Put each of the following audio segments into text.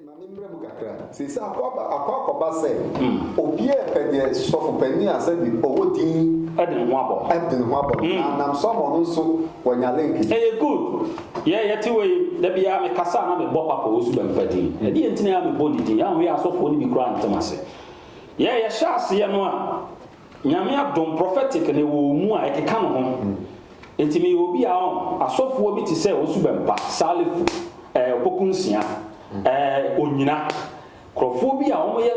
Ma me mmra mu kakra. Seesei akɔ aba, akɔ akɔba sɛ obi a ɛpɛ deɛ sɔfo panin a sɛbi ɔwɔ din ɛde ne ho abɔ no ɛde ne ho abɔ no na nam so ama ɔno nso wanya link bi. Ɛyɛ good. Yɛ yɛte wei da biara me kasa a na me bɔ papa ɔwosu bɛmpa din. Ɛde yɛ nti na yɛ a me bɔ ne din. Yɛ anhwɛ yɛ asɔfoɔ no bi koraa ntem ase. Yɛ yɛ hyɛ aseɛ no a. Nyame adom prophetic na ɛwɔ ɔmu a ɛkeka no ho nti meyɛ obi a ɔn asɔfoɔ bi te sɛ Ɔsu Bɛmpa, Salifu, ɛɛ Opoku Nsia, ɛɛ Onyina, nkurɔfoɔ bi a wɔyɛ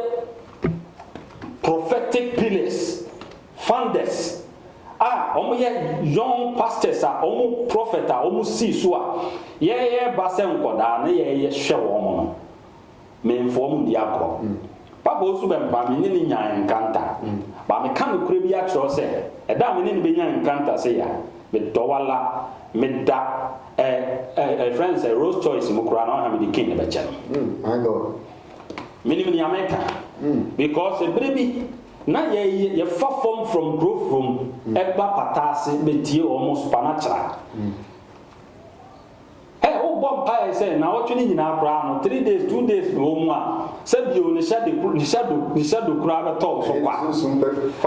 prophetic pillars, founders a wɔyɛ young pastors a wɔn prophet a wɔsii so a yɛɛba sɛ nkɔdaa na yɛɛyɛ hwɛ wɔn no. Memmfoa mu ndi agorɔ. Papa Osu bɛ mpo a, me ne no nyae nkranta. Ba meka nokorɛ bi akyerɛ wo sɛ, ɛda a me ne no bɛnya nkranta sei a, medɔ wo ara. Meda ɛ ɛ ɛfrɛ no sɛ Rolls Choice mu koraa na ɔha mede King no bɛkyɛ no. Menim nea meka because ɛberɛ bi na yɛ yɛfa fam from Kurofrom ɛba Pataase bɛtie wɔn supanakyera. Ɛ wobɔ mpaɛ sɛ naawɔtwe no nyinaa koraa no three days two days na ɔwɔ mu a sɛ bio ne hyɛ de ne hyɛ do ne hyɛ do koraa bɛtɔ wo so kwa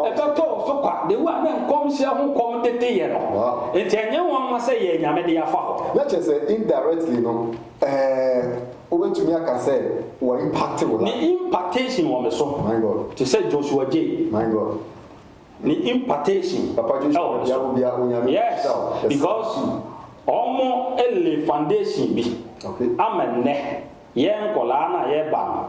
ɛbɛtɔ wo so kwa de wo a na nkɔmhyɛ ho kɔm dede yɛ no nti ɛnyɛ nwanwa sɛ yɛɛ nyame de afa hɔ. Na kyerɛ sɛ indirectly no ɛɛ wobɛtumi aka sɛ wɔ impacte wo life. Ne impactation wɔ me so te sɛ Joshua Jay. My God. ne impartation ɛwɔ ne so. Yes, because ɔmo lay foundation bi ama nnɛ yɛn nkɔlaa no a yɛba no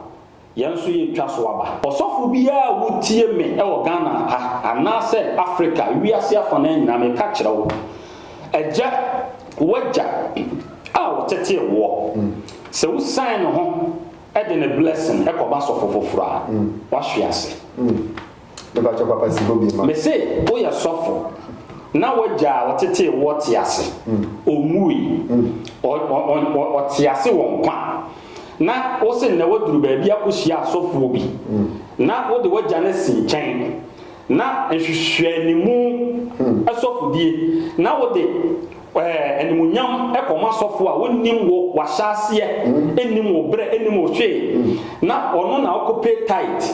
yɛn nso yɛtwa so aba. Ɔsɔfo biara a wotie me wɔ Ghana ha anaasɛ Africa, wiase afanaa nyinaa, meka kyerɛ wo, agya, w'agya a ɔtetee woɔ, sɛ wo sign ne ho de ne blessing kɔma sɔfo foforɔ a, wahwe ase. Mepakyɛw papa si hɔ bi ma. Mese woyɛ sɔfo na w'agya a ɔtetee woɔ te ase, ɔnwuui, ɔte ase wɔ nkwa, na wose nnɛ woaduru baabi akɔhyia asɔfoɔ bi na wode w'agya no asi nkyɛn na nhwehwɛanimu sɔfodie na wode animuonyam kɔma asɔfoɔ a wɔnnim wo w'ahyɛaseɛ nnim wo berɛ nnim wo hwee na ɔno na wokɔpɛ tithe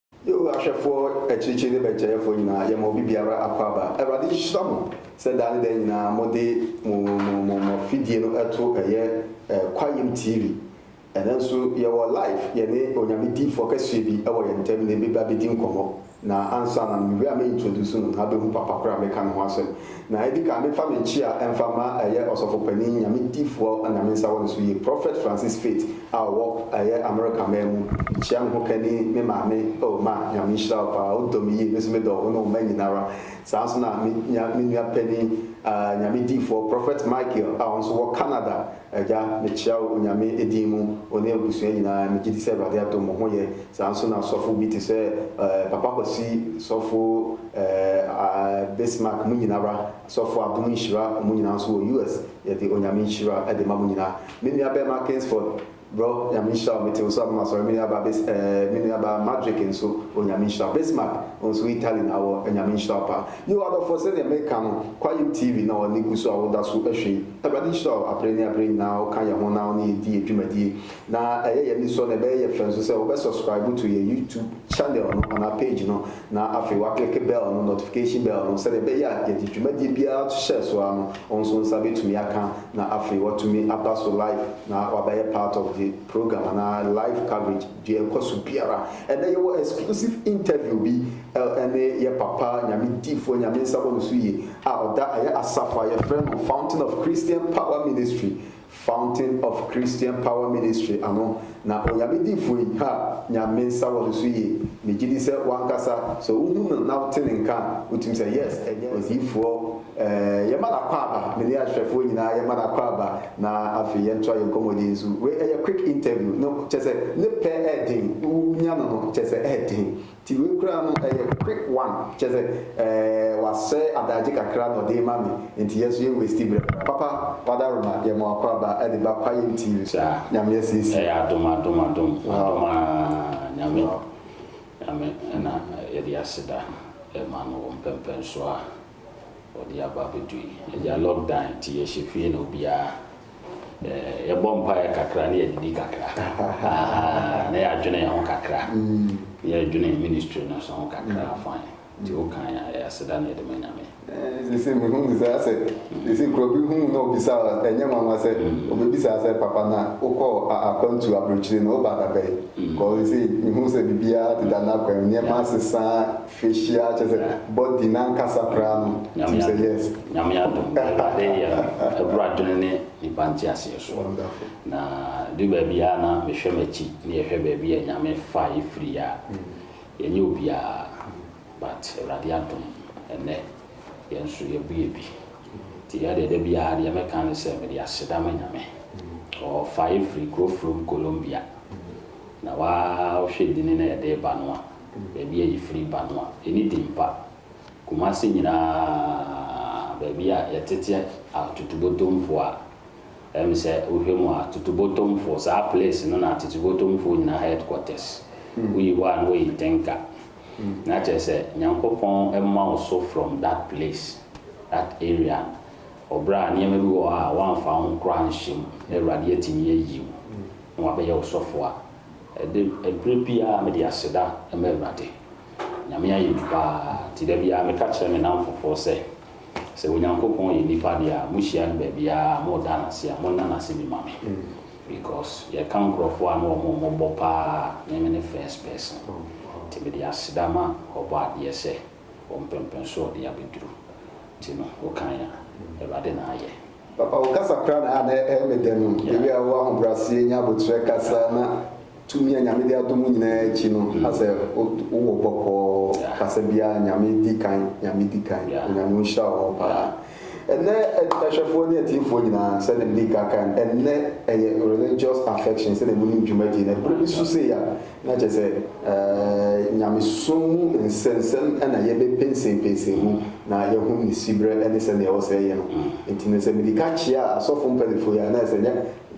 Yehowa ahwɛfoɔ, akyirikyiri ne bɛnkyɛrefoɔ nyinaa, yɛma obi biara akwaaba. Awurade nhyira mo sɛ daa ne daa nyinaa mode mo mo mo mo afidie no to ɛyɛ Kwayɛm TV. Ɛnnɛ nso yɛwɔ live, yɛne Onyame diyifoɔ kɛseɛ bi wɔ yɛn ntam na ɛbɛba abɛdi nkɔmmɔ. Na ansa na mewura me introduce no na abɛhu papa korɔ a meka ne ho asɛm. Na edi kan memfa me nkyia mfa mma ɛyɛ Ɔsɔfo Panin Nyame Difoɔ a Nyame nsa wɔ ne so yie, Prophet Francis Faith a ɔwɔ ɛyɛ America man mu, mekyia me hokani, me maame, oh ma, Nyame nhyira wo paa, wodɔ me yie, me nso medɔ wo ne wo mma nyinara, saa nso na me nua panin, ah, Nyame Difoɔ Prophet Michael a ɔnso wɔ Canada, Agya, mekyea wo Onyame din mu, wo ne abusua nyinaa. Megye di sɛ Awurade adom wo ho yɛ. Saa ara nso na asɔfo bi te sɛ eh, Papa Kwasi, Sɔfo eh, ah, Bismarck, mo nyina ara, Sɔfo Adom Nhyira, wɔn nyinaa nso wɔ US. Yɛde Onyame nhyira de ma mo nyinaa. Me nua bɛɛma Kingsford, Brɔ, Nyame nhyira wo. Mete wo so abam asɔre. Me nua baa Bis eh, me nua baa Madrick nso, Onyame nhyira wo. Bismarck, wo nso Italy na wɔ, Onyame nhyira wo paa. Yiw, adɔfoɔ, sɛdeɛ meka no, Kwaeɛm TV na wɔn ani gu so a woda so hwɛ yi. Awurade nhyira wo aberɛ ne aberɛ nyinaa a wo ka yɛn ho na wo ne yɛn di yɛn dwumadie. Na ɛyɛ yɛn anisɔ na ɛbɛyɛ yɛn fɛ nso sɛ wo bɛ subscribe to yɛn YouTube channel no anaa page no na afei wa click bell no, notification bell no, sɛdeɛ ɛbɛyɛ a yɛde dwumadie biara to hyɛɛ so ara no wo nso wo nsa bɛtumi aka na afei watumi aba so live na wabɛyɛ part of the program anaa live coverage. Deɛ ɛkɔ so biara. Ɛnɛ yɛwɔ exclusive interview bi ɛne yɛ papa Nyame difoɔ Nyame nsa wɔ ne so yie a ɔda ɛyɛ asafo a yɛfrɛ no Fountain of Christian Power Ministry Fountain of Christian Power Ministry ano na Onyame difoɔ yi ha Nyame nsa wɔ ne so yie megye di sɛ wankasa sɛ wohu no na wote ne nka a wotumi sɛ yes ɛnyɛ odifoɔ Yɛma no akwaaba, me ne ahwɛfoɔ nyinaa yɛma no akwaaba na afei yɛntoa yɛn nkɔmmɔdie nso. Wei ɛyɛ quick interview no kyerɛ sɛ ne pɛ ɛɛden, wonya no no kyerɛ sɛ ɛɛden nti wei koraa no ɛyɛ quick one kyerɛ sɛ wasɛe adaagye kakra na ɔde rema me nti yɛn nso yɛn wasti berɛ koraa. Papa Wadaroma yɛma wo akwaaba de ba Kwayɛn TV so. Saa, Nyame asiesie. Ɛyɛ adom adom adom adom aa Nyame Nyame na yɛde aseda ma no wɔ mpɛmpɛnsoɔ a Wɔde aba abɛdui. Agya lock dan nti yɛhyɛ fie na obiara eh, yɛbɔ mpaeɛ kakra na yɛdidi kakra na yɛadwene yɛn ho kakra na yɛadwene ministry no so ho kakra mm. fine nti wokan a ɛyɛ aseda na yɛde ma nyame sese eh, mehu ne saa sɛ sese kuro bi hu na obisa ɛnyɛ nwanwa sɛ mm. obɛbisa sɛ papa na wokɔ akwantu aburokyire na woba dabɛn mm. kɔ sese mehu sɛ biribiara deda no akwan nneɛma asesa Hyia kyerɛ sɛ bɔ din ankasa koraa no tim sɛ yes. Nyame adom Awurade yɛ abura adwene ne nipa nteaseɛ soɔ. Na ɛduru baabi a na me hwɛ m'akyi ne yɛ hwɛ baabi a Nyame fa yɛ firi yɛ a yɛ nyɛ obiara but Awurade adom ɛnɛ yɛ nso yɛ bu yɛ bi. Nti yɛ deɛ da biara deɛ me ka ne sɛ me de aseda ma Nyame ɔfa yɛ firi kuro from Colombia na wa hwɛ dini na yɛ de ba no a Baabi a yefiri ba no a, enni din pa. Kumasi nyinaa, baabi a yɛtete atutubotomfo a, ɛm sɛ wohwɛ mu a, atutubotomfo, saa place no na atutubotomfo nyinaa headquarters. Woyi hɔ a na woyi Tenka. Na kyerɛ sɛ, Nyankopɔn mma wo so from that place, that area no. Wɔ berɛ a nneɛma bi wɔ hɔ a woamfa wo ho koraa anhyɛ mu, na Awurade atumi ayi wo, na wabɛyɛ wo sɔfo a, Ɛde, ɛberɛ biara mede aseda ma Awurade. Nyame ayɛ bi paa, nti da biara meka kyerɛ me nnamfofoɔ sɛ, sɛ Onyankopɔn yɛ nnipa deɛ a, mohyia no baabiara a, moreda no ase a, monna no ase bi ma me. Because yɛka nkorɔfoɔ a na wɔn wɔ mmɔbɔ paa a, me me ne first person. Nti mede aseda ma Ɔbɔadeɛ sɛ, Ɔmpɛmpɛnsoɔ de abɛduru. Nti no, wokan a, Awurade na ayɛ. Papa wo kasa koraa na na ɛyɛ me dɛ no, the way a wo ahobraseɛ nya aboterɛ kasa na tumi a Nyame de adom wo nyinaa akyi no asɛ wo wɔ bɔkɔɔ kasa biara Nyame di kan Nyame di kan Onyame onhyira wo hɔ paa Ɛnnɛ ahwɛfoɔ ne atiefoɔ nyinaa sɛdeɛ mede ka kan ɛnnɛ ɛyɛ religious affection sɛdeɛ monim dwumadie no ɛberɛ bi so sei a Na kyerɛ sɛ, nyamesom mu nsɛnsɛm na yɛbɛpensenpensen mu na yɛahunu ne siberɛ ne sɛnea ɛwɔ sɛ yɛyɛ no. Enti no, sɛ mede ka kyia asɔfo mpanyimfo yi a, na ɛsɛ sɛ ɛnyɛ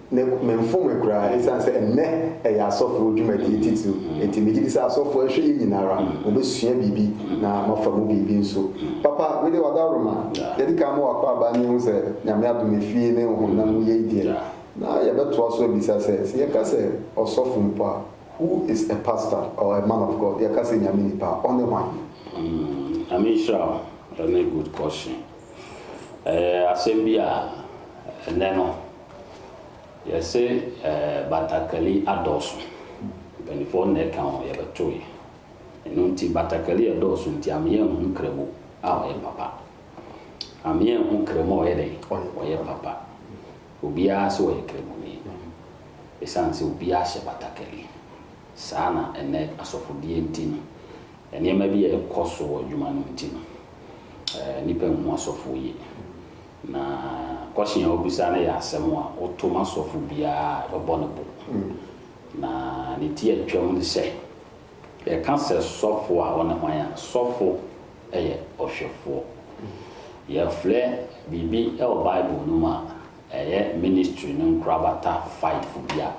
na memfom me koraa, esiane sɛ ɛnnɛ ɛyɛ asɔfo dwumadie titiriw. Enti megye di sɛ asɔfo anhwɛ yɛn nyinaa ara, wɔbɛsua biribi na wɔafa mu biribi nso. Papa, wo deɛ, w'adaworoma. Yɛadi kan ama wo akwaaba ne ahu sɛ, Nyame adom, efie ne honam mu yei deɛ, Na yɛbɛtoa so abisa sɛ, sɛ yɛka sɛ ɔsɔfo mpo a, who is a pastor or a man of God? Yɛka sɛ Nyame nipa a, ɔne hwan? Nyame nhyira wo, ɛne good question. Ɛyɛ asɛm bi a ɛnnɛ no yɛse batakali adɔɔso, mpaninfoɔ no na ɛka ho, yɛbɛtoe. Ɛno nti batakali a ɛdɔɔso nti ama yɛanhu kramo a ɔyɛ papa. Ama yɛanhu kramo a ɔyɛ dɛn? Ɔyɛ papa. Obiara sɛ ɔyɛ Kramoni esiane sɛ obiara hyɛ batakari. Saa na ɛnnɛ asɔfodeɛ nti no, nneɛma bi a ɛkɔ so wɔ adwuma no nti no, nnipa nhu asɔfoɔ yie. Na kɔhyen a wobisa no yɛ asɛm a woto ma sɔfo biara a ɛbɛbɔ no bo. Na ne ti a atwam ne sɛ, Yɛka sɛ sɔfo a, wone hwan a? Sɔfo yɛ ɔhwɛfoɔ. Yɛfrɛ biribi wɔ Bible no mu a ɛyɛ ministry no nkorabata fifo bi a,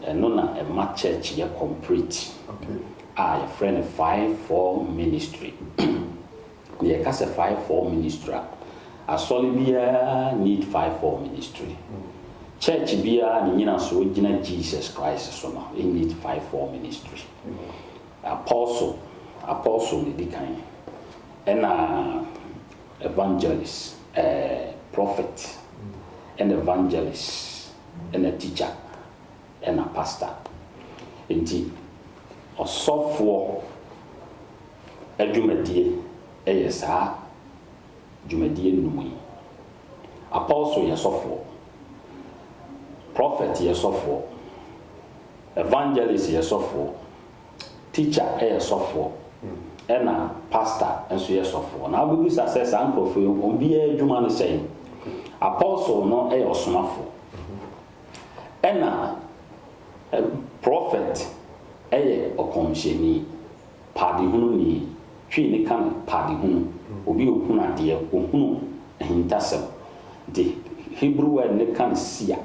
ɛno na ɛma church yɛ complete a yɛfrɛ no five-fold ministry. Yɛ ka sɛ five four ministry a, asɔre biara need five four ministry. Church biara ne nyinasoɔ gyina Jesus Christ so no need five four ministry. Apostle, apostle na ɛdi kan, ɛna evangelist, eh, prophet, ɛna evangelist, ɛna teacher. Ɛna pastor nti ɔsɔfoɔ adwumadie yɛ saa dwumadie nnum yi. Apostle yɛ sɔfoɔ, prophet yɛ sɔfoɔ, evangelist yɛ sɔfoɔ, teacher yɛ sɔfoɔ, ɛna pastor nso yɛ sɔfoɔ. Na wobɛbisa sɛ saa nkurɔfoɔ yi wɔn biara adwuma ne sɛn? Apostle no yɛ ɔsomafoɔ, Ɛna prɔfɛt yɛ ɔkɔmhyɛni, paadehunu ni, Twi no ka no paadehunu, obi a ɔhunu adeɛ, ɔhunu ahintasɛm. Nti Hebrew word no ka no seer,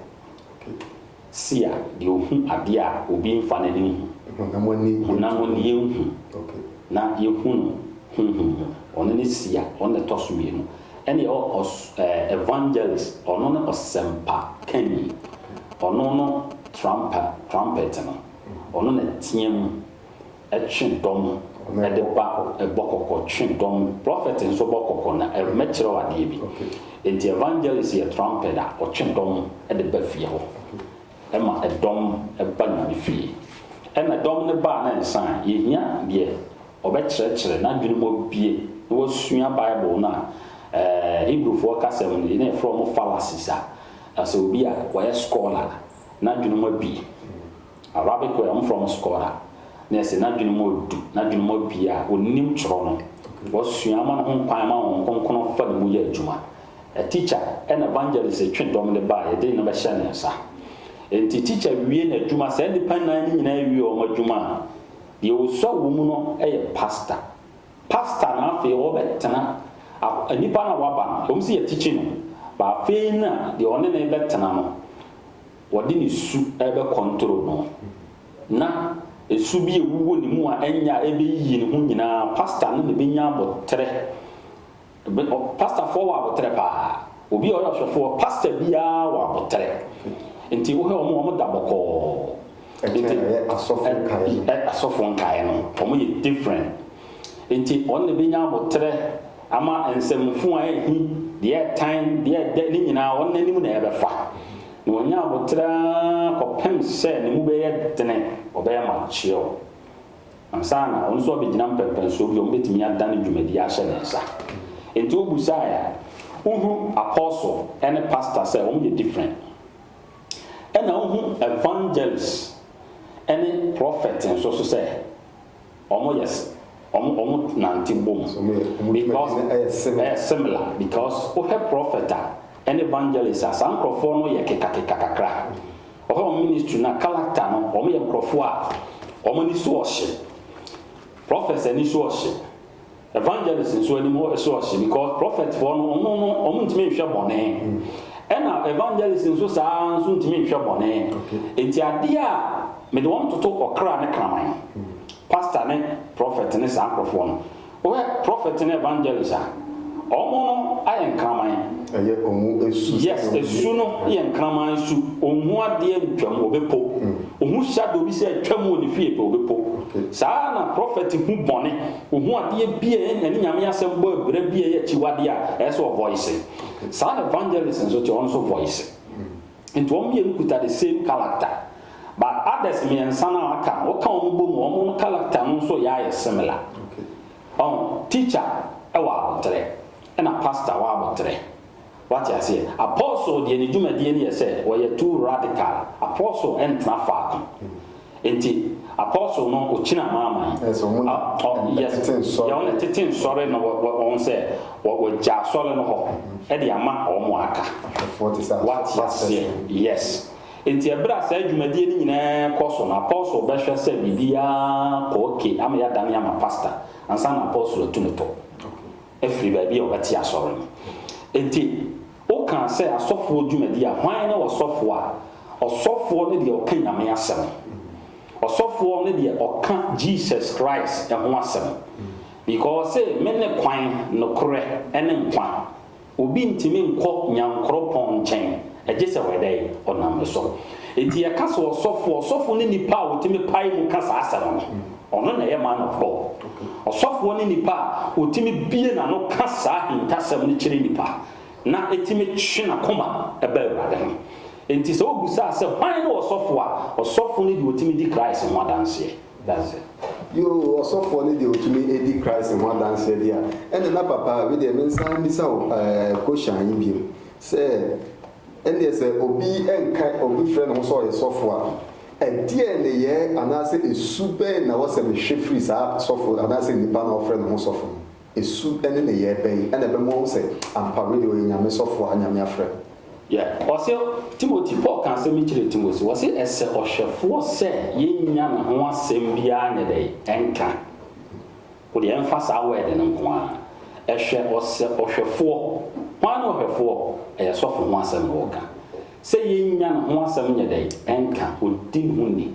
seer, deɛ ɔhu adeɛ a obi mfa n'ani nhu, honam ani yɛnhu, na yɛhu no honhom mu, ɔno ne seer, ɔno na ɛtɔ so mmienu. Ɛna yɛwɔ ɔs eh, evangelist, ɔno ne ɔsɛmpa kanyi, ɔno no trampa, trumpet no, ɔno na ɛteɛ mu twe dɔm de ba, ɛbɔ kɔkɔ twe dɔm. Prophet nso bɔ kɔkɔ na ɛmɛkyerɛ wo adeɛ bi. Enti evangelist yɛ trumpet a ɔtwe dɔm de ba fie hɔ, ɛma ɛdɔm ba Nyame fie. Ɛna dɔm no ba a na ɛnsan, yɛhia deɛ Wɔbɛkyerɛkyerɛ n'adwene mu abue na wasua Bible no a Hebrewfoɔ kasa mu no, yɛn a yɛfrɛ wɔn fallacies a asɛ obi a wayɛ scholar n'adwene mu abue. Arabic wɔ yɛ wɔfrɛ wɔn scholar na yɛsɛ n'adwene mu adu, n'adwene mu abue a ɔnim twerɛ no, wasua ama ne ho kwan ma Honhom Kronkron fa ne mu yɛ adwuma. A teacher ɛna evangelist twe dɔm de ba a yɛde nneɛma bɛhyɛ ne nsa. Enti teacher wie n'adwuma, saa nnipa nnan no nyinaa wie wɔn adwuma a, Deɛ ɔsua wɔ mu no yɛ pastor. Pastor no afei ɔbɛtena ak nipa no a waba no, ɛwɔ mu sɛ yɛatikyi no, but afei na deɛ ɔne no rebɛtena no, ɔde ne su rebɛkɔntoro no, na ɛsu bi a ɛwuwɔ ne mu a ɛnyɛ a ɛbɛyiyi ne ho nyinaa, pastor no na ɛbɛnya aboterɛ. Me ɔ pastafoɔ wɔ aboterɛ paa. Obi a ɔyɛ ɔhwɛfoɔ, pasta biara wɔ aboterɛ. Nti wohwɛ wɔn a, wɔn da bɔkɔɔ. Ɛkyɛn Nti, ɛyɛ asɔfo ɛ, nkaeɛ no. ɛ, asɔfoɔ nkaeɛ no, wɔn yɛ different. Nti wɔn na ɛbɛnya aboterɛ ama nsɛmfo a ɛrehi, deɛ ɛretan, deɛ ɛdɛ, ne nyinaa wɔn anim na ɛbɛfa. Na wɔnya aboterɛ ara kɔpem sɛ ne mu bɛyɛ dene, wɔbɛyɛ mature. Ansa na wɔn nso abegyina mpɛnpɛnsoɔ bi a wɔbɛtumi adane dwumadie ahyɛ ne nsa. Enti wobusaeɛ a, wohu apostle ne pastor sɛ wɔyɛ different. Ɛna wohu evangelist ne prophet nso so sɛ wɔyɛ wɔn nante bom because ɛyɛ similar because wohwɛ prophet a ne evangelist a saa nkorɔfoɔ no yɛ kekakeka kakra. Wɔfrɛ wɔn ministry no a, character no, wɔyɛ nkurɔfoɔ a wɔn ani so ɔhye. Prophets ani so ɔhye. Evangelists nso anim so ɔhye because prophet foɔ no, wɔn no, wɔn ntumi nhwɛ bɔne. Ɛna evangelists nso saa ara nso ntumi nhwɛ bɔne. Nti adeɛ a mede wɔn toto ɔkra ne kraman. Pastor ne prophet ne saa nkurɔfoɔ no. Wohwɛ prophet ne evangelist a ɔmo no ayɛ nkraman. Ɛyɛ ɔmo su sɛdeɛ Yes, ɔmo yɛ. su no yɛ nkraman su. Onhu adeɛ ntwam, obe po. Ohu shadow bi sɛ atwam wɔ ne fie pɛ, obe po. Okay. Saa ara na prophet hu bɔne. Ohu adeɛ bi a ɛne Nyame asɛm bɔ abira bi a ɛyɛ akyiwadeɛ a, ɛyɛ sɛ ɔ voice. Saa na evangelist nso te, ɔno nso voice. Nti wɔn mmienu kuta the same character but others mmiɛnsa no a aka no woka wɔn bɔ mu a wɔn character no nso yɛ ayɛ similar. Ɔho? Teacher wɔ aboterɛ ɛna pastor wɔ aboterɛ. Wate aseɛ? Apostle deɛ ne dwumadie no yɛ sɛ ɔyɛ too radical. Apostle ntena faako. Enti apostle no okyina maa ma yi. Yes, ɔmo na ɛtete nsɔre. Yɛ ɔmo na ɛtete nsɔre no wɔn sɛ wɔgya asɔre no hɔ ɛde ama wɔn a aka. Wate aseɛ? Yes. Enti ɛberɛ a saa dwumadie no nyinaa kɔ so no apostle bɛhwɛ sɛ biribiara kɔ okay ama yɛadane ama pastor ansa na apostle atu ne tɔ. afiri baabi a wɔbɛte asɔre no. Enti wokaa sɛ asɔfoɔ dwumadi a, hwan ne ɔsɔfoɔ a? Ɔsɔfoɔ ne deɛ ɔka Nyame asɛm. Ɔsɔfoɔ ne deɛ ɔka Jesus Christ ho asɛm. Because ɔse mene kwan, nokorɛ, ne nkwa. Obi ntumi nkɔ Nyankoropɔn nkyɛn agyesɛ ɔyɛ dɛn? Ɔnam me so. Enti yɛka sɛ ɔsɔfoɔ, ɔsɔfoɔ ne nipa a ɔtumi pae mu ka saa asɛm no. Ɔno na ɛyɛ man of God. Ɔsɔfoɔ ne nipa a ɔtumi bue n'ano ka saa ahintasɛm no kyerɛ nipa na ɛtumi twe n'akoma ba Awurade ho. Enti sɛ wobisaa sɛ hwan ne ɔsɔfoɔ a, ɔsɔfoɔ ne deɛ ɔtumi di Christ ho adanseɛ. That's it. Yoo, ɔsɔfoɔ ne deɛ ɔtumi di Christ ho adanseɛ deɛ a, ɛnna na papa a, medeɛ mensan mmisa wo ɛɛ kosyan yi bio sɛ, ɛnneɛ sɛ obi nka, obi frɛ ne ho sɛ ɔyɛ sɔfoɔ a, Ɛdeɛn nneyɛɛ anaasɛ su bɛn na ɛwɔ sɛ mehwɛ firi saa sɔfo anaasɛ nipa no a ɔfrɛ ne ho sɔfo no hɔ? Su ne nneyɛɛ bɛn na ɛbɛma wahu sɛ ampa wei deɛ ɔyɛ Nyame sɔfo a Nyame afrɛ no? Yeah, ɔse Timothy, Paul ka asɛm bi kyerɛɛ Timothy, ɔse ɛsɛ ɔhwɛfoɔ sɛ yɛnnya ne ho asɛm biara nyɛ dɛn? Ɛnka. O deɛ ɛmfa saa word no nko ara. Hwɛ ɔsɛ ɔhwɛfoɔ. Hwan ne ɔhwɛfoɔ? Ɛyɛ sɔfo ho asɛm na ɔreka. Sɛ yɛnnya ne ho asɛm nyɛ dɛn? Ɛnka. Ɔdi ne ho ni.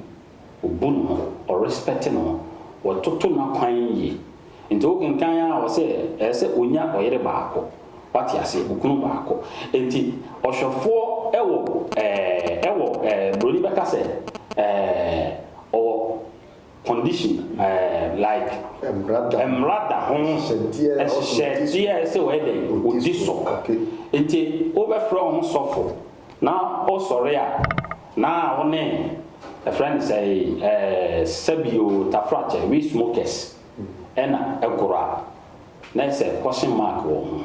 Ɔbu ne ho. Ɔrespɛte ne ho. Ɔtoto n'akwan yie. Nti wokenkan ara ɔse ɛsɛ sɛ ɔnya ɔyere baako. Wate aseɛ? Okunu baako. Nti ɔhwɛfoɔ wɔ ɛɛ ɛwɔ ɛɛ broni bɛka sɛ ɛɛ ɔwɔ. condition um like mmara da ho nhyehyɛdeɛ a ɛsɛ wɔyɛ dɛn wɔdi so nti wobɛfrɛ wo ho sɔfo na wosɔre a na wo ne ɛfrɛ no sɛ eh, sɛbio tafrakyɛ we smokers ɛna ɛgoro a na ɛsɛ question mark wɔ ho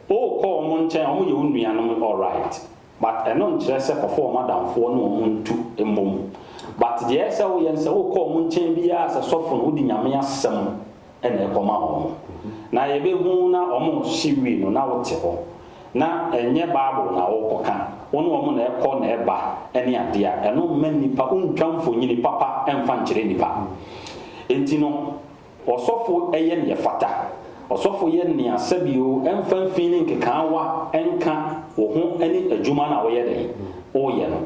wokɔ wɔn nkyɛn wɔn yɛ wo nuanom alright But ɛno nkyerɛ sɛ kɔfa wɔn adamfoɔ ne wɔn ntu mmom. But deɛ ɛsɛ sɛ woyɛ no sɛ wokɔ wɔn nkyɛn biara sɛ sɔfo no wode Nyame asɛm na ɛkɔma wɔn. Na yɛbɛhu na wɔn rehye wie no na wote hɔ. Na ɛnyɛ Bible na worekɔka. Wo ne wɔn na ɛkɔ na ɛba ne adeɛ a ɛno mma nnipa wontwa mfonyini papa mfa nkyerɛ nnipa. Enti no. Ɔsɔfo yɛ nea ɛfata. Ɔsɔfo yɛ nea sɛbio ɛmfa mfii ne nkekaawa nka wo ho ne adwuma no a woyɛ dɛn? Woyɛ no.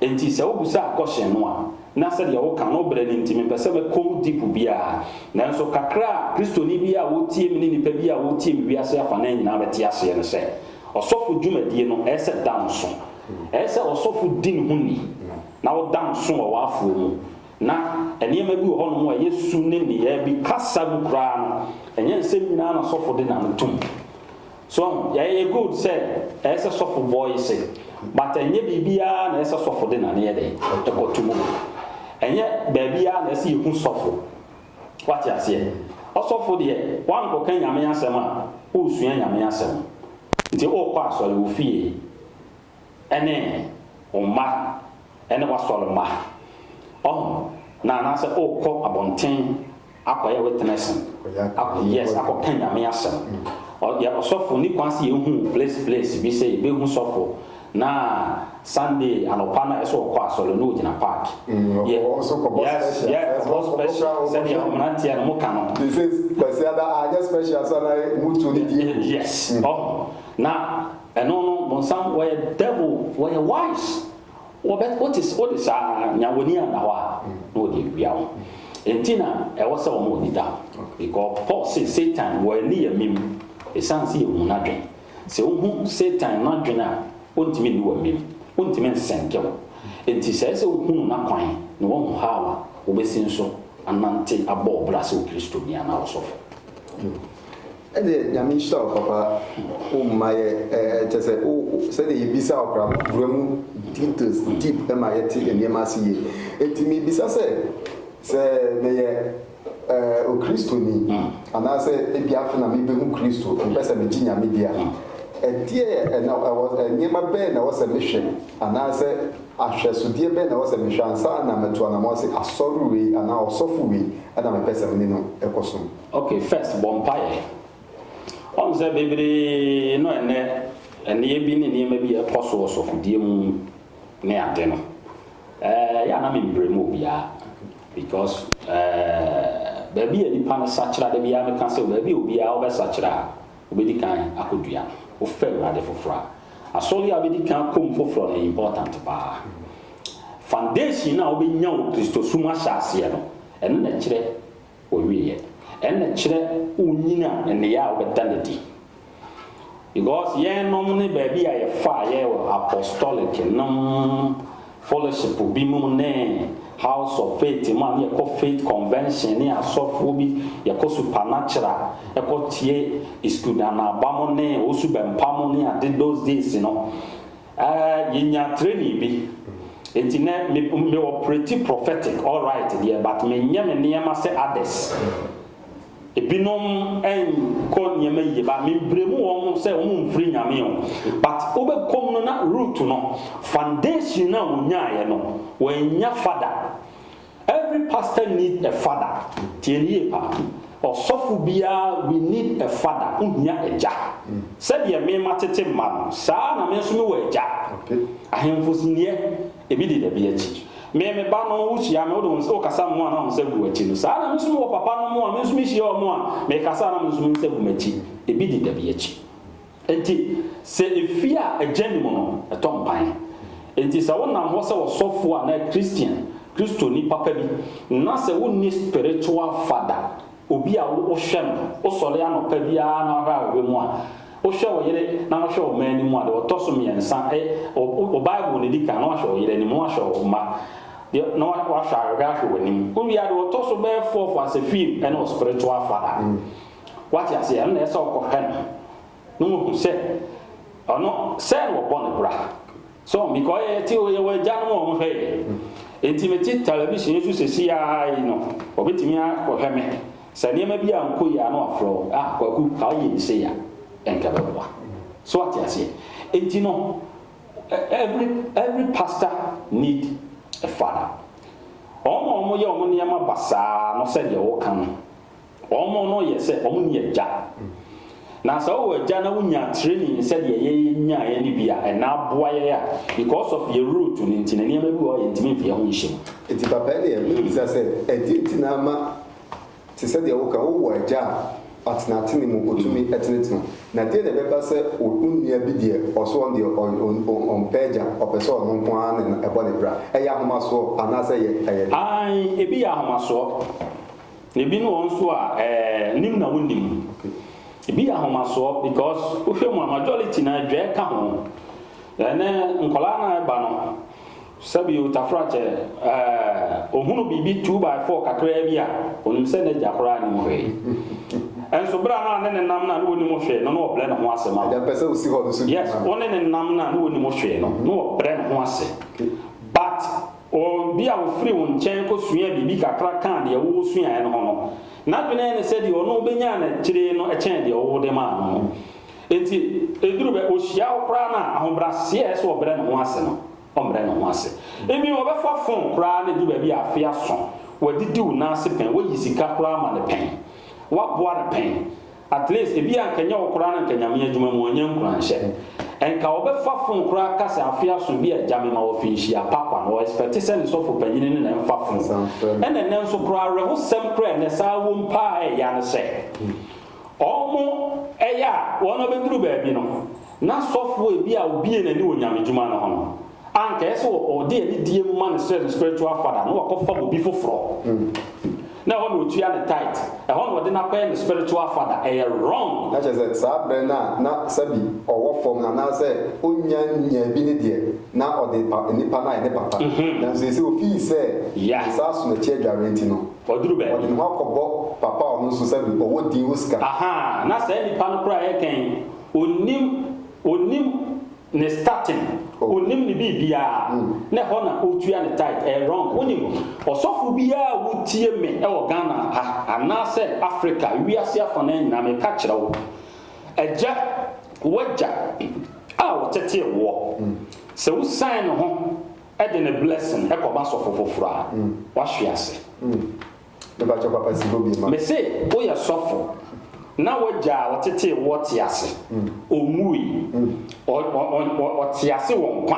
Enti sɛ wobisaa kɔhyen no a, na sɛdeɛ woka no berɛ no nti mempɛ sɛ mɛkɔ mu deep biara. Nanso kakra a Kristoni biara a ɔretie me ne nnipa biara a wɔretie me wiase afanan nyinaa bɛte aseɛ ne sɛ, ɔsɔfo dwumadie no ɛyɛ sɛ danso. Ɛyɛ sɛ ɔsɔfo di ne ho ni na ɔda nso wɔ w'afoɔ mu. Ná nneɛma bi wɔ hɔnom a ɛyɛ su ne nneyɛe bi kasa mu koraa no, ɛnyɛ nsɛm nyinaa na sɔfo de n'ano tom. So ahu? Ɛyɛ good sɛ ɛyɛ sɛ sɔfo bɔ ese, but ɛnyɛ biribiara na ɛyɛ sɛ sɔfo de n'ano yɛ dɛn? Ɛkɔto mu. Ɛnyɛ baabiara na ɛsɛ sɛ yehu sɔfo. Wate aseɛ? Ɔsɔfo deɛ, woankɔka Nyame asɛm a, woresua Nyame asɛm. Nti worekɔ asɔre, wo fie, ɛne wo mma ne w'asɔr mba. Ɔho na anaasɛ ookɔ abɔntsen akɔyɛ witness akɔ yes akɔkã Nyame asɛm. Ɔ yɛ ɔsɔfo ne kwan se yehu wo place place bi sɛ yebehu sɔfo na Sunday anɔpa no a ɛsɛ ɔkɔ asɔre no ogyina park. Yɛ yes yɛ kɔbɔ special sɛdeɛ mmeranteɛ no moka no. They say Kwasiada anyɛ special so ana ɔmo tu ne die gu. Yes ɔho na ɛno no bonsam wɔyɛ devil wɔyɛ wise. Wɔbɛ, wote, wode saa nya w'ani anna hɔ a, na wɔde awia wo. Enti na ɛwɔ sɛ wɔma w'ani da hɔ. Because Paul se, Satan, wɔ ani yɛ mem, esiane sɛ yɛhu n'adwene. Sɛ wohu Satan n'adwene a, ontumi nni w'amem. Ontumi nsɛnke wo. Enti sɛ ɛyɛ sɛ wohu no n'akwan, na woahu how a, wobɛsi nso anante abɔ wo bra sɛ Okristoni anaa ɔsɔfo. Ɛdeɛ Nyame nhyira wo papa wo mma yɛ ɛɛ kyɛ sɛ wo sɛdeɛ yɛbisa wo koraa wo wura mu details deep ma yɛte nneɛma ase yie enti mebisa sɛ sɛ meyɛ ɛɛ okristoni anaasɛ ebi afe na mebɛhu Kristo mepɛ sɛ megye Nyame di a ɛdeɛ ɛna ɛwɔ nneɛma bɛn na ɛwɔ sɛ mehwɛ anaasɛ ahwɛsodeɛ bɛn na ɛwɔ sɛ mehwɛ ansa na matu anamɔn se asɔre wei anaa ɔsɔfo wei ɛna mepɛ sɛ mene no ɛkɔsom. Ok first bɔ mpaeɛ. Ɔhu sɛ bebree no ɛnnɛ ɛnneɛ bi ne nneɛma bi a ɛkɔ so wɔ sɔfodie mu ne ade no ɛɛ yɛ a na membrɛ mu obiara because ɛɛ baabi a nipa no sakyera da biara meka sɛ baabi a obiara wobɛsakyera a wobɛdi kan akɔdua no wofɛ awurade foforɔ a asɔre a wobɛdi kan akɔm foforɔ no important paa foundation no a wobɛnya wo kristosom ahyɛ aseɛ no ɛno na ɛkyerɛ Ɔwieɛ. Ɛna kyerɛ wo nyin a nneyɛɛ a wobɛda no adi. Because yɛnom ne baabi a yɛfaa yɛ wɔ apostolic nom fellowship bi mu ne house of faith mu a ne yɛkɔ faith convention ne asɔfoɔ bi yɛkɔ supernatural ɛkɔ tie iskudanaba mo ne osubɛmpa mo ne ade those days no. Ahh yɛnyaa training bi nti nɛ me me operate prophetic alright deɛ but me nyɛ me nneɛma sɛ others ebinom nkɔ nneɛma yie but me bremu wɔn sɛ wɔn mfiri nyame o but wobɛkɔm no na root no foundation no a wɔnyaaɛ no wɔannya fa da Every pastor need a father tie no yie paa ɔsɔfo biara we need a father wo hia agya sɛdeɛ me ma tete mma no saa ara na me nso me wɔ agya ahemfo siniɛ ebi di dabi akyi me me ba no wo hyia me wo de wo wo kasa mo a na wo nsa gu akyi no saa ara na me nso me wɔ papa no mo a me nso me hyia wɔn a me kasa a na me nso me nsa gu m'akyi ebi di dabi akyi. Enti, sɛ efi a egya nni mu no, ɛtɔ mpan. Enti sɛ wonam hɔ sɛ ɔsɔfo anaa Kristian, Kristoni papa bi, na sɛ wunni spiritual father, obi a wohwɛ no, wosɔre anɔpa biara na wahwɛ ahwehwɛ mu a, wohwɛ wo yere na wohwɛ wo mma anim a, deɛ ɔtɔ so mmiɛnsa, ɛ, wo, wo Bible na edi kan, na wahwɛ wo yere anim, na wahwɛ wo mma, deɛ, na wa, wahwɛ ahwehwɛ ahwɛ w'anim. Wowie a, deɛ ɔtɔ so bɛyɛ fourth as a fim ne wo spiritual father. Wate aseɛ? Ɛno na ɛsɛ sɛ ɔkɔhwɛ no na wahu sɛ ɔno sɛ na wɔbɔ no bra. So because ɔyɛ yɛte ɔyɛ wɔn agyanom a wɔhwɛ yɛn. Nti mete television yi so sɛsi ara yi no, wɔbɛtumi akɔhwɛ me. Sɛ nneɛma bi ankɔ yie a na wɔafrɛ wo, ah Kwaku, ka woyɛ bi sei a, ɛnka bɛboa. So wate aseɛ? Nti no, every, every pastor need a father. Wɔn a wɔyɛ wɔn nneɛma basaa no sɛdeɛ woka no, Wɔn no yɛ sɛ wɔn nni agya. Na sɛ wowɔ agya na wonyaa training sɛ deɛ yɛ yɛ nyaeɛ no bi a, ɛna aboa yɛn a because of yɛ root no nti no nneɛma bi wɔ hɔ a yɛntumi mfa yɛ ho nhyɛ mu. Nti papa ɛneɛ mebisa sɛ ɛdeɛ nti na ama te sɛ deɛ woka wowɔ agya a atenatene mu ɔtumi tenetene na deɛ na ɛbɛba sɛ wo nua bi deɛ ɔso ɔno deɛ ɔn ɔmpɛ agya ɔpɛ sɛ ɔno nko ara na ɛbɔ ne bra ɛyɛ ahomasoɔ anaa sɛ ɛyɛ ɛyɛ dɛn? Aane ebi yɛ ahomasoɔ Na ebi ne wɔn nso a ɛɛ nim na wonnim. Ebi yɛ ahomasoɔ because wohwɛ mu a majority no ara dwɛɛ ka ho. Ɛnɛ nkwadaa no a ɛba no sɛbio Tafrakyɛ ɛɛ ohunu biribi two by four kakraa bi a onim sɛ n'agya koraa nim hwee. Ɛnso berɛ a na ne ne nam no a ne wɔnim hwee no na ɔbrɛ ne ho ase ma wo. Yes, wo ne ne nam no a ne wɔnim hwee no na ɔbrɛ ne ho ase but. Obi a ofiri wo nkyɛn kosuaa biribi kakra kaa deɛ wo suaeɛ no ho no, n'adwene ne sɛ deɛ ɔno ɔbɛnyaa no akyire no kyɛn deɛ wo wode maa no no. Enti ɛduru bɛ ɔhyia wo koraa no a, ahobrɛaseɛ a ɛsɛ sɛ ɔbrɛ ne ho ase no, ɔmmrɛ ne ho ase. Even ɔbɛfa fon koraa no ɛduru baabi a afe aso, wadidi wo nan ase pɛn, woayi sika koraa ama no pɛn, woaboa no pɛn. At least ebia nka nyɛ wo koraa na nka Nyame adwuma mu ɔnyɛ nkuranhyɛ. Nka ɔbɛfa phone koraa ka sɛ afe aso bi a agya mema wo afi nhyia pa kwa no ɔ expect sɛ ne sɔfo panyini ne na ɛmfa phone. Ɛna ɛnɛ nso koraa awerɛhosɛm koraa a ɛnɛ saa wom paa a ɛyɛ a ne sɛ ɔmo ɛyɛ a wɔn abɛduru baabi no Ná sɔfoe bi a obue n'ani wɔ nyamedwuma no ho no, anka ɛyɛ sɛ ɔde anidie ma ne srɛ no spiritual father na wakɔfam obi foforɔ na ɛhɔ na ɔtua ne tithe, ɛhɔ na ɔde no akɔyɛ ne spiritual father. Ɛyɛ wrong. Na kyerɛ sɛ saa berɛ no a na sɛbi ɔwɔ fam no anaasɛ ɔnnya nnyaa bi no deɛ, na ɔde pa nnipa no ayɛ ne papa. Nanso seesei ɔfii sɛ ne nsa aso n'akyi adwareɛ nti no, ɔde ne ho akɔbɔ papa a ɔno nso sɛbi ɔwɔ din, ɔwɔ sika. Ahaa, na saa nnipa no koraa yɛ dɛn? Ɔnnim, ɔnnim ne statin, ɔnnim ne biribiara, na ɛhɔ na ɔtua ne tithe, ɛyɛ wrong. Wonim, ɔsɔfo biara a wotie me wɔ Ghana ha, anaasɛ Africa, wiase afanaa nyinaa, meka kyerɛ wo, agya, w'agya a ɔtetee woɔ, sɛ wo sign ne ho de ne blessing kɔma sɔfo foforɔ a, wahwe ase. Mepakyɛw papa si hɔ bi ma. Mese woyɛ sɔfo na w'agya a ɔtetee woɔ te ase, ɔnwuui, ɔte ase wɔ nkwa,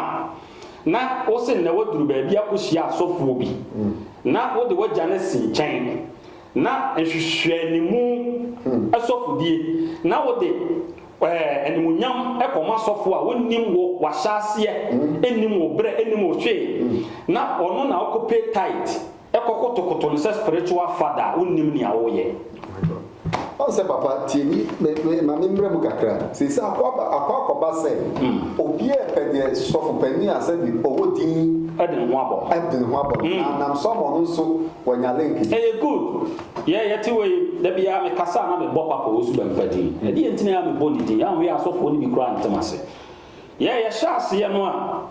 na wose nnɛ woaduru baabi akɔhyia asɔfoɔ bi na wode w'agya no asi nkyɛn na nhwehwɛanimu asɔfodie na wode animuonyam kɔma asɔfoɔ a wɔnnim wo w'ahyɛaseɛ nnim wo berɛ nnim wo hwee na ɔno na wokɔpɛ tithe Kɔ kotokoto no sɛ spiritual father wonnim nea woyɛ. My God. Wahu sɛ papa tie me me me ma me mmra mu kakra. Seesei akɔ aba akɔ akɔba sɛ obiara repɛ deɛ sɔfo panin a sɛbi ɔwɔ din Ɛde ne ho abɔ. ɛde ne ho abɔ no na nam so ama ɔno nso wanya link bi. Ɛyɛ good. Yɛ yɛte wei da biara me kasa a na me bɔ papa owusu bɛmpa din. Ɛdeɛ nti na yɛ a me bɔ ne din. Anhwɛ yɛ a asɔfoɔ no bi koraa ntem ase. Yɛ yɛ hyɛ aseɛ no a.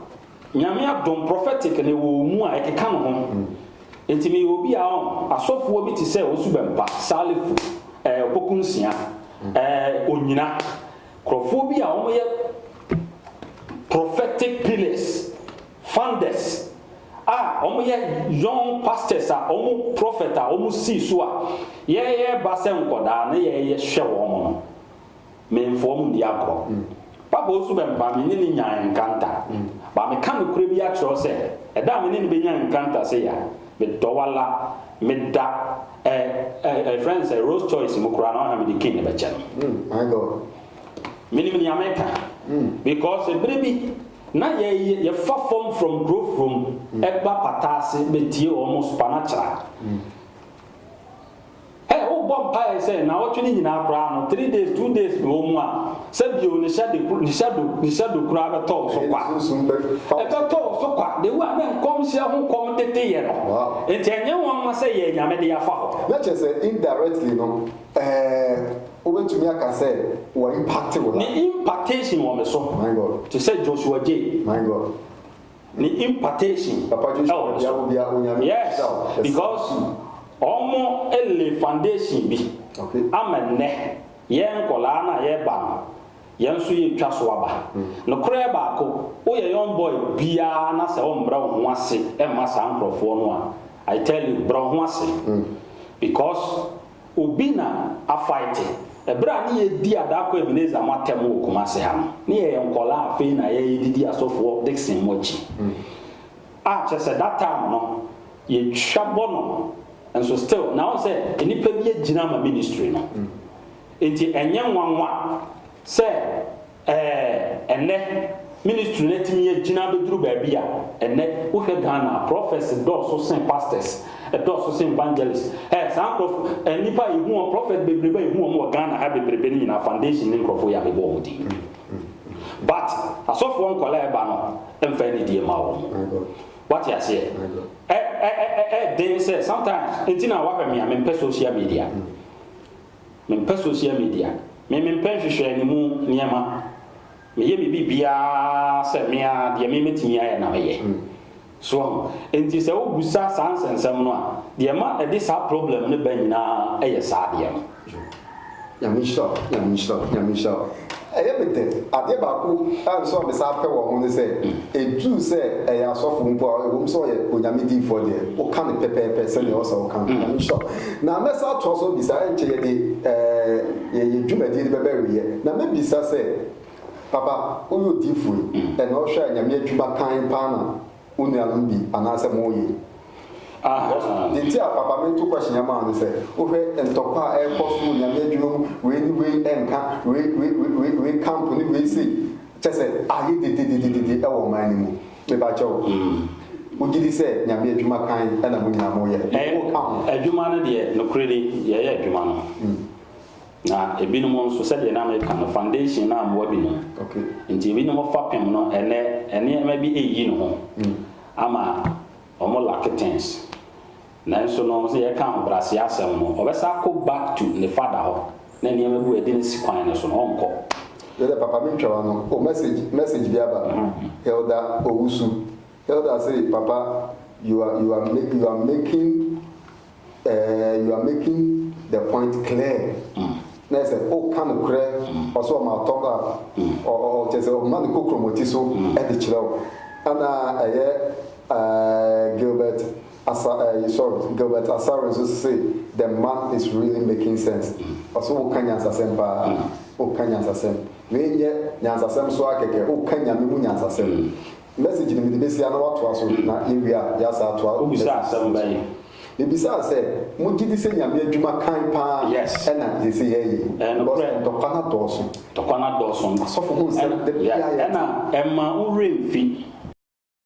Nyame adom prophetic na ɛwɔ ɔmu a ɛkeka no ho nti meyɛ obi a ɔn asɔfoɔ bi te sɛ Owusu Bɛmpa, Salifu, ɛɛ Opoku Nsia, ɛɛ Onyina, nkurɔfoɔ bi a wɔyɛ prophetic pillars, founders a wɔyɛ young pastors a wɔn prophet a wɔsii so a yɛɛba sɛ nkɔdaa na yɛɛyɛ hwɛ wɔn no. Memfoa mu ndi agorɔ. Papa Osu bɛmpaa me ne no nyaa nkranta. But meka nokorɛ bi akyerɛ wo sɛ, ɛda a me ne no bɛnya nkranta sei a, medɔ wo ala. Meda ɛ ɛ ɛfrɛ no sɛ Rolls Choice mu koraa na ɔhwɛ a mede King no bɛkyɛ no. My God. Menim nea meka. Because ɛberɛ bi na yɛ yɛ yɛfa fam from Kurofrom ba Pataase bɛtie wɔn supanakyera. Hey wobɔ mpaeɛ sɛ naawɔtwe no nyinaa koraa no three days two days na ɛwɔ mu a sɛ bio ne hyɛ de ne hyɛ do ne hyɛ do koraa bɛtɔ wo so kwa ɛbɛtɔ wo so kwa de wo a na nkɔmhyɛ ho kɔm tete yɛ no nti ɛnyɛ nwanwa sɛ yɛɛ nyame de afa hɔ. Na kyerɛ sɛ indirectly no ɛɛ wobɛtumi aka sɛ wɔ impacte wo life. Ne impactation wɔ me so. My God. Te sɛ Joshua J. My God. ne impartation ɛwɔ so. Yes, because ɔmo lay foundation bi ama nnɛ yɛn nkɔlaa no a yɛba no, yɛn nso yɛtwa so aba. Nokorɛ baako, woyɛ young boy biara na sɛ wommrɛ wo ho ase mma saa nkorɔfoɔ no a, I tell you, brɛ wo ho ase. Because. Obi na Afaete. Ɛberɛ a ne yɛredi Adako Ebenezer mo atɛm wɔ Kumase ha no, ne yɛyɛ nkwadaa afei na yɛredidi Asɔfoɔ Dickson mo akyi. A kyerɛ sɛ that time no yɛtwa bɔ no nso still na wohu sɛ nnipa bi agyina ama ministry no. Enti ɛnyɛ nwanwa sɛ Ɛɛ, ɛnnɛ, ministry no atumi agyina abɛduru baabi a, ɛnnɛ, wohwɛ Ghana a, prophets dɔɔso sen pastors, ɛdɔɔso sen evangelists. Ɛɛ, saa nkorɔfo, ɛɛ, nnipa a yɛhu wɔn, prophets bebrebe a yɛhu wɔn wɔ Ghana ha bebrebe no nyinaa, foundation ne nkorɔfoɔ yi a mebɔ wɔn din no. But, asɔfoɔ nkwadaa a ɛba no, ɛmfa anidie mma wɔn. Woate aseɛ? Ɛ, ɛ, ɛ, ɛ, ɛyɛ den sɛ, sometimes, nti na woahwɛ me a, mempɛ social media. Mempɛ social media. Me mempɛ nhwehwɛ ne mu nneɛma. Meyɛ me biribiara sɛ me ara deɛ me mɛtumi ayɛ na meyɛ. So wahu? Enti sɛ wo busa saa nsɛnsɛm no a, deɛ ɛma ɛde saa problem no ba nyinaa yɛ saa adeɛ no. Nyame nhyira wo, Nyame nhyira wo, Nyame nhyira wo. Ɛyɛ me den. Adeɛ baako a nso a mesan pɛ wɔ ho ne sɛ, ɛduru sɛ ɛyɛ asɔfo mpo a, ɛwom sɛ ɔyɛ Onyame diyifoɔ deɛ, woka no pɛpɛɛpɛ sɛdeɛ ɛwɔ sɛ woka no. Nyame nhyira wo. Na mɛsan atoa so abisa, ɛnkyɛ yɛde ɛɛ yɛn dwumadie no bɛbɛ awieɛ, na mɛbisa sɛ, Papa, woyɛ odiyifoɔ yi, ɛna wohwɛ a Nyame adwuma kann paa na wo nuanom bi anaasɛ moye? Ah, deɛ nti a papa meto question yi ama wo ne sɛ, wohwɛ ntɔkwa a ɛrekɔ so wɔ Nyame adwuma mu, wei ne wei ɛnka, wei, wei, wei, wei, wei camp ne wei sei, kyerɛ sɛ ayɛ dedededede ɛwɔ ɔman no mu. Mebakyɛ wo, wogye di sɛ Nyame adwuma kann na mo nyinaa moyɛ? Ɛyɛ, Wo ka ho. adwuma no deɛ, nokorɛ ni, yɛyɛ adwuma no. Na ebinom nso, sɛdeɛ na meka no, foundation no ammoa binom. Nti ebinom fapem no, ɛnnɛ nneɛma bi reyi ne ho ama wɔn lacke things. Nanso no, sɛ yɛka ahobrɛaseɛ asɛm no, ɔbɛsan akɔ back to ne father hɔ, na nneɛma bi wɔ a yɛde no si kwan no so no, ɔrenkɔ. Yɛ dɛ papa mentwa w'ano o message message bi aba Elder Owusu Elder se papa you are you are you are making Eeh you are making the point clear na yɛ sɛ woka nokorɛ ɔsɛ ɔma top up ɔ ɔ ɔ kyerɛ sɛ ɔma no kɔ kromoti so de kyerɛ wo ɛna ɛyɛ eeh Gilbert Asa eeh sorry Gilbert Asare nso se the man is really making sense ɔsɛ woka nyansasɛm paa woka nyansasɛm wei nyɛ nyansasɛm so ara kɛkɛ woka Nyame mu nyansasɛm Message no mede bɛsi ha na woatoa so na yɛwie a yɛasan atoa messages no so. Wobisa asɛm bɛn? Mebisaa sɛ, Mogye di sɛ Nyame adwuma kann paa Yes. ɛna seesei yɛyɛ yi? Ɛyɛ Because nokorɛ. ntɔkwa no adɔɔso. Ntɔkwa no adɔɔso. Asɔfo ho nsɛm, Ɛna- da biara yeah, yɛte. ɛna ɛmma wo werɛ mfi.